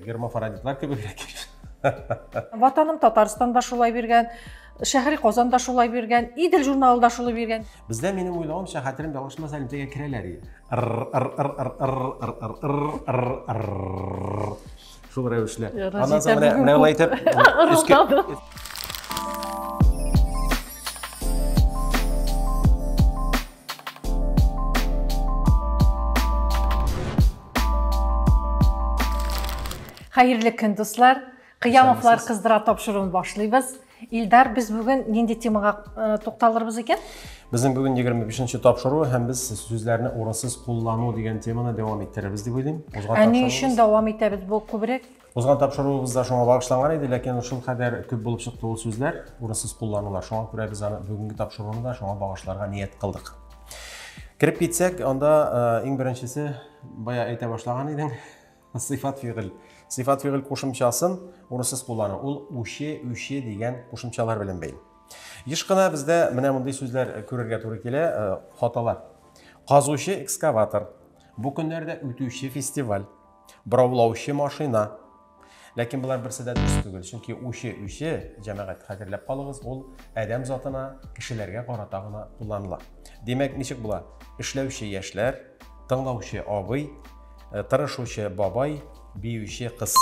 Гермафородитлар кебегрәк. Ватаным Татарстан да шулай биргән, Шәһри Казан да шулай биргән, Идел журналы да шулай биргән. Бездә минем уйлавымча хәтерем ялгышмас элемтәгә керәләр иде. Шул рәвешле. Аннан соң менә менә улай итеп өскә Хәерле көн, дуслар! Кыямовлар кыздыра тапшыруын башлыйбыз. Илдар, без бүген нинди темага э, тукталырбыз икән? Безнең бүген 25-нче тапшыру һәм без сүзләрне урысыз куллану дигән теманы дәвам иттерербез дип уйлыйм. Ә ни өчен дәвам итәбез? Бу күбрәк Узган тапшыруыбыз да шуңа багышланган иде, ләкин шул кадәр күп булып чыкты ул сүзләр, урынсыз кулланулар. Шуңа күрә без аны бүгенге тапшыруны да шуңа багышларга ният кылдык. Кереп китсәк, анда э, иң беренчесе бая әйтә башлаган идең, сыйфат фигыль. Сыйфат фигыль кушымчасын урынсыз куллану. Ул үче, үче дигән кушымчалар белән бәйле. Еш кына бездә менә мондый сүзләр э, күрергә туры килә, э, хаталар. Казучы экскаватор. Бу көннәрдә үтүче фестиваль. Бораулаучы машина. Ләкин болар берсе дә дөрес түгел, чөнки үче үче, җәмәгать, хәтерләп калыгыз, ул адәм затына, кешеләргә карата гына кулланыла. Димәк, ничек була? Эшләүче яшьләр, тыңлаучы абый, э, тырышучы бабай, биюче кыз.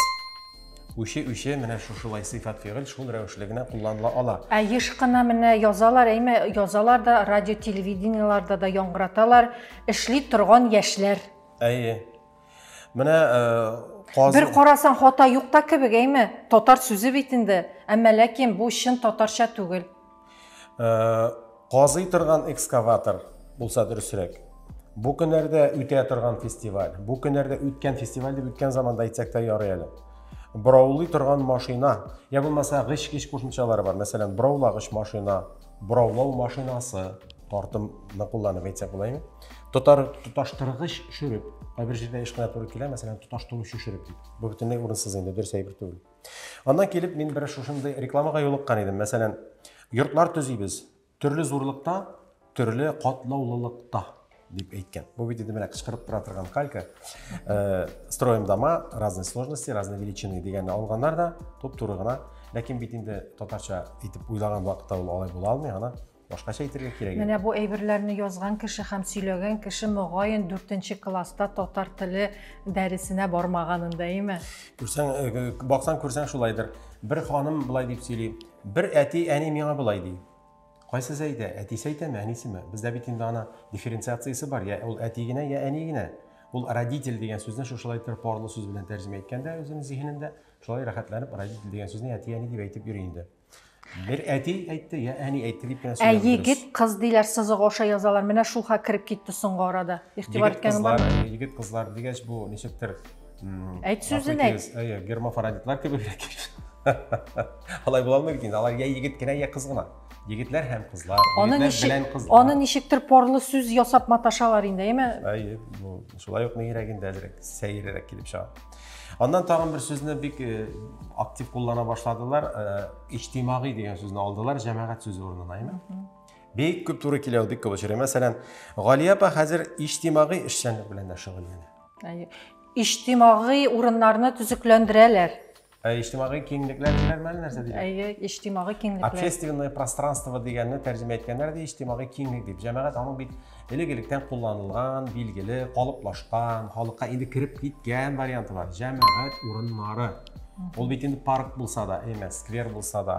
Үче үче менә шушылай сыйфат фигыль шул рәвешле генә кулланыла ала. Ә еш кына менә язалар, әйме, язалар да, радио-телевидениеларда да яңгыраталар, эшли торган яшьләр. Әйе. Менә э, Бер карасаң хата юк та кебек, әйме? Татар сүзе бит инде. Әмма ләкин бу чын татарча түгел. Э, казый торган экскаватор булса дөресрәк. Бу көннәрдә үтә торган фестиваль. Бу көннәрдә үткән фестиваль дип үткән заманда әйтсәк тә ярый әле. Браулый торган машина, я булмаса гыч-гыч кушымчалары бар. Мәсәлән, браулагыч машина, Бораулау машинасы, тартым ны кулланып әйтсәк була инде. Тотар тоташтыргыч шөреп. Кайбер җирдә еш кына туры килә, мәсәлән, тоташтыручы шөреп дип. Бу бөтенләй урынсыз инде, дөрес әйбер түгел. Аннан килеп мин бер шушындый рекламага юлыккан идем. Мәсәлән, йортлар төзибез. Төрле зурлыкта, төрле катлаулылыкта. дип әйткән. Бу бит инде менә кычкырып тора торган калька. Э, строим дома разной сложности, разной величины дигәнне алганнар да туп-туры гына. Ләкин бит инде татарча итеп уйлаган вакытта ул алай була алмый, ана башкача әйтергә кирәк. Менә бу әйберләрне язган кеше һәм сөйләгән кеше мөгаен 4 класста татар теле дәресенә бармаганын да име? Күрсәң, э, баксаң күрсәң шулайдыр. Бер ханым былай дип сөйли. Бер әти әни миңа былай ди. Кайсы Зәйдә, әтисе әйтәме, әнисеме? Бездә бит инде ана дифференциациясе бар, я ул әти генә, я әни генә. Ул родитель дигән сүзне шушылай иттереп парлы сүз белән тәрҗемә иткәндә үзенең зиһенендә, шулай рәхәтләнеп родитель дигән сүзне әти-әни дип әйтеп йөри инде. Бер әти әйтте, я әни әйтте дип кенә Ә егет, кыз диләр, сызык аша язалар. Менә шул хәл кереп китте соңгы арада. Игътибар иткәнең бармы? Егет, кызлар дигәч, бу ничектер Әйт сүзен әйт. Әйе, гермафородитлар кебегрәк икән. Алай була алмый инде. Алар я егет кенә, я кыз гына. Егетләр һәм кызлар, егетләр белән кызлар. Аны ничектер порлы сүз ясап маташалар инде, әйме? Әйе, бу шулай ук нигрәк инде әзрәк, сәеррәк килеп чыга. Аннан тагын бер сүзне бик э, актив куллана башладылар. Э, Иҗтимагый дигән сүзне алдылар, җәмәгать сүзе урынына, әйме? Бик күп туры килә ул, бик күп очрый. Мәсәлән, Галия апа хәзер иҗтимагый эшчәнлек белән дә шөгыльләнә. Иҗтимагый урыннарны төзекләндерәләр. Ә иҗтимагый киңлекләр диләр мәле нәрсә диләр? Әйе, иҗтимагый киңлекләр. Общественное пространство дигәнне тәрҗемә иткәннәр ди, иҗтимагый киңлек дип. Җәмәгать аның бит элек-электән кулланылган, билгеле, калыплашкан, халыкка инде кереп киткән варианты бар. Җәмәгать урыннары. Ул бит инде парк булса да, әмә сквер булса да,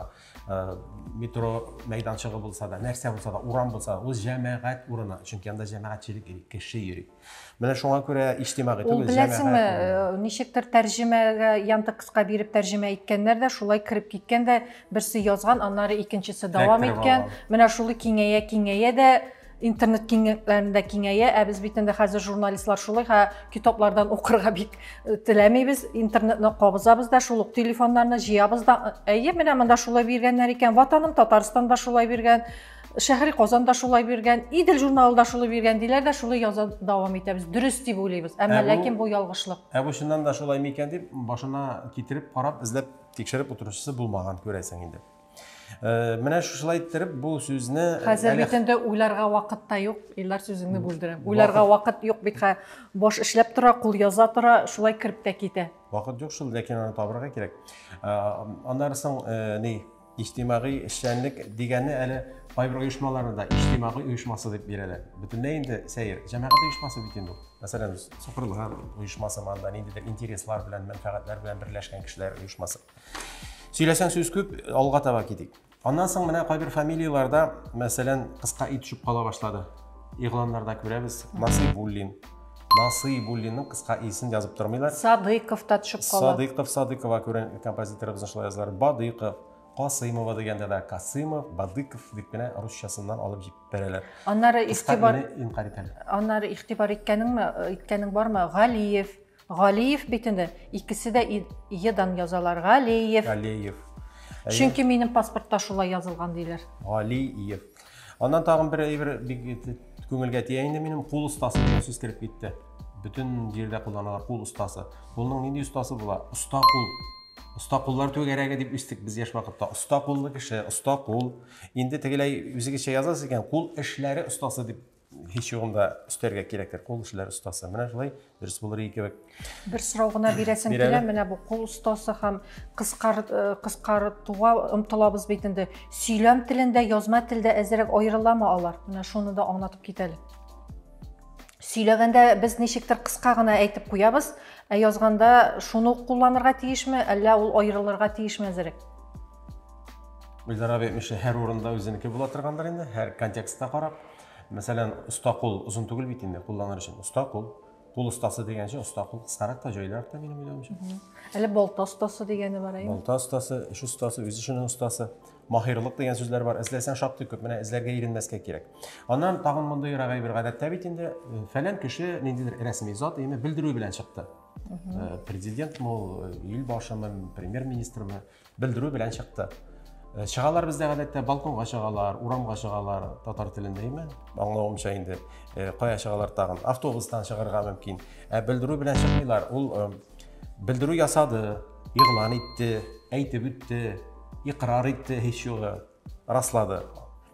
э, метро мәйданчыгы булса да, нәрсә булса да, урам булса да, ул җәмәгать урыны. Чөнки анда җәмәгатьчелек кеше йөри. Менә шуңа күрә иҗтимагый түгел, Ул беләсеңме, э, ничектер тәрҗемәгә Яндекска биреп тәрҗемә иткәннәр дә, шулай кереп киткән дә, берсе язган, аннары икенчесе дәвам иткән. Менә шулы киңәя киңәя дә интернет киңлекләрендә киңәя, ә без бит инде хәзер журналистлар шулай, һә китаплардан укырга бик э, теләмибез, интернетны кабызабыз да, шул ук телефоннарны җыябыз да. Әйе, менә монда шулай биргәннәр икән, ватаным Татарстанда шулай биргән. Шәһри Казан да шулай биргән, Идел журналы да шулай биргән диләр дә шулай яза дәвам итәбез. Дөрес дип уйлыйбыз, әмма ә ләкин бу ялгышлык. Ә бу чыннан да шулай микән дип башына китереп карап, эзләп тикшереп утыручысы булмаган күрәсең инде. Э, менә шушылай иттереп бу сүзне э, хәзер бит инде уйларга вакыт та юк илдар сүзеңне бүлдерәм уйларга вакыт юк бит баш эшләп тора кул яза тора шулай кереп тә китә вакыт юк шул ләкин аны табырга кирәк э, аннары соң ни Иҗтимагый эшчәнлек дигәнне әле кайбер оешмаларны да иҗтимагый оешмасы дип бирәләр. Бөтенләй инде сәер. Җәмәгать оешмасы бит инде. Мәсәлән, сукырлар оешмасы манда ниндидер интереслар белән, мәнфәгатьләр белән берләшкән кешеләр оешмасы. Сөйләсәң сүз күп, алга таба китик. Аннан соң менә кайбер фамилияләрдә, мәсәлән, кыска ит төшеп кала башлады. Игъланнарда күрәбез. Насыйбуллин, Насыйбуллинның кыска исен язып тормыйлар. Садыйков та төшеп кала. Садыйков, Садыкова күрен композиторыбызны шулай язалар. Бадыйков, Касыймова дигәндә дә Касыймов, Бадыков дип кенә русчасыннан алып җиткерәләр. Аннары игътибар Аннары игътибар иткәнеңме, иткәнең бармы? Галиев, Галиев бит инде. Икесе дә Е-дан язалар. Галиев. Галиев. Чөнки минем паспортта шулай язылган диләр. Галиев. Аннан тагын бер әйбер бик күңелгә тия инде минем кул остасы дигән сүз кереп китте. Бөтен җирдә кулланылар кул остасы. Кулның нинди остасы була? Оста кул. Оста куллар түгәрәге дип үстек без яшь вакытта. Оста куллы кеше, оста кул. Инде тегеләй үзегезчә язасыз икән, кул эшләре остасы дип Һич югында өстәргә кирәктер кул эшләр остасы. Менә шулай дөрес булыр иде кебек. Бер сорау гына бирәсем килә, менә бу кул остасы һәм кыскартуга э, омтылабыз бит инде. Сөйләм телендә, язма телдә әзерәк аерыламы алар? Менә шуны да аңлатып китәле. Сөйләгәндә без ничектер кыска гына әйтеп куябыз, ә язганда шуны кулланырга тиешме, әллә ул аерылырга тиешме әзерәк? Гөлзара әбей, һәр урында үзенеке була торгандыр инде, һәр контекстта карап. Мәсәлән, оста кул озын түгел бит инде кулланыр өчен. Оста кул, кул остасы дигәнче оста кул кыскарак та, җайлырак та минем уйлавымча. Әле балта остасы дигәне бар әйме? Балта остасы, эш остасы, үз эшенең остасы. Маһирлык дигән сүзләр бар. Эзләсәң шактый күп. Менә эзләргә иренмәскә кирәк. Аннан тагын мондый рагай бер гадәттә бит инде э, фәлән кеше ниндидер рәсми зат әйме белдерү белән чыкты. Э, президент мол, э, ил башымы, премьер-министрмы, белдерү белән чыкты. Э, чыгалар бездә гадәттә балконга чыгалар, урамга чыгалар, татар телендә име? Аңлавымча инде э, кая чыгалар тагын? Автобустан чыгарга мөмкин. Ә белдерү белән чыкмыйлар. Ул э, белдерү ясады, игълан итте, әйтеп үтте, икрар итте һич югы, раслады.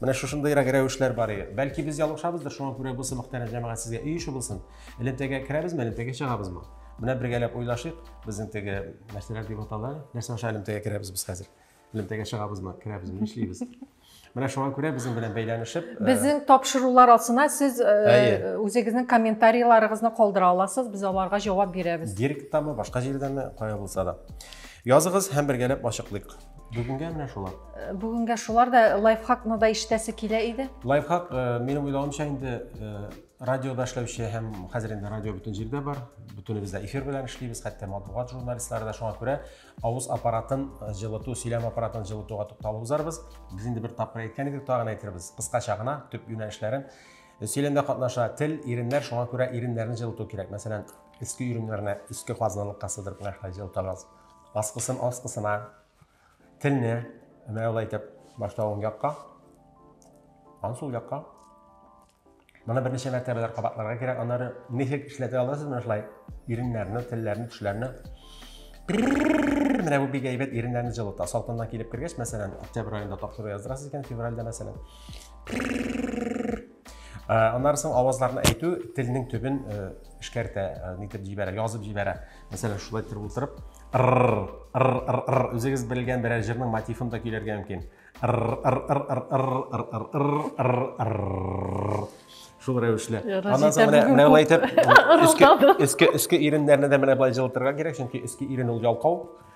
Менә шушындыйрак рәвешләр бар иде. Бәлки без ялгышабыздыр, шуңа күрә бу сымак тәрән җәмәгать сезгә өй ише булсын. Элемтәгә керәбезме, элемтәгә чыгабызмы? Менә бергәләп уйлашыйк, безнең теге нәрсәләр дип атала, нәрсә аша элемтәгә керәбез без хәзер? Элемтәгә чыгабызмы, керәбезме, нишлибез? Менә шуңа күрә безнең белән бәйләнешеп, э, Безнең тапшырулар астына сез э, Әйе. үзегезнең комментарийларыгызны калдыра аласыз, без аларга җавап бирәбез. директтамы, башка җирдәме, кая булса да. Языгыз һәм бергәләп ачыклыйк. Бүгенгә менә шулар. Э, бүгенгә шулар да лайфхакны да ишетәсе килә иде. Лайфхак э, минем уйлавымча инде э, радиода эшләүче һәм хәзер инде радио бөтен җирдә бар. Бөтенебез дә эфир белән эшлибез, хәтта матбугат журналистлары да шуңа күрә авыз аппаратын җылыту, сөйләм аппаратын җылытуга тукталып узарбыз. Без инде бер тапкыр әйткән идек, тагын әйтербез. Кыскача гына төп юнәлешләрен сөйләмдә катнаша тел, иреннәр, шуңа күрә иреннәрне җылыту кирәк. Мәсәлән, иске иреннәрне иске казналыкка сыдырып нәрсә җылытабыз. Аскысын аскысына телне менә алай итеп башта уң якка, аннан сул якка. Моны берничә мәртәбәләр кабатларга кирәк. Аннары ничек эшләтә аласыз менә шулай иреннәрне, телләрне, тешләрне. Менә бу бик әйбәт иреннәрне җылыта. Салкыннан килеп кергәч, мәсәлән, октябрь аенда таптыру яздырасыз икән, февральдә мәсәлән. Э, аннары соң авазларны әйтү телнең төбен э, эшкәртә э, нитеп җибәрә язып җибәрә мәсәлән шулай торып утырып р үзегез белгән берәр җырның мотивын да көйләргә мөмкин шул рәвешле аннан соң менә менә болай итеп өске өске өске иреннәрне дә менә былай җылытырга кирәк чөнки өске ирен ул ялкау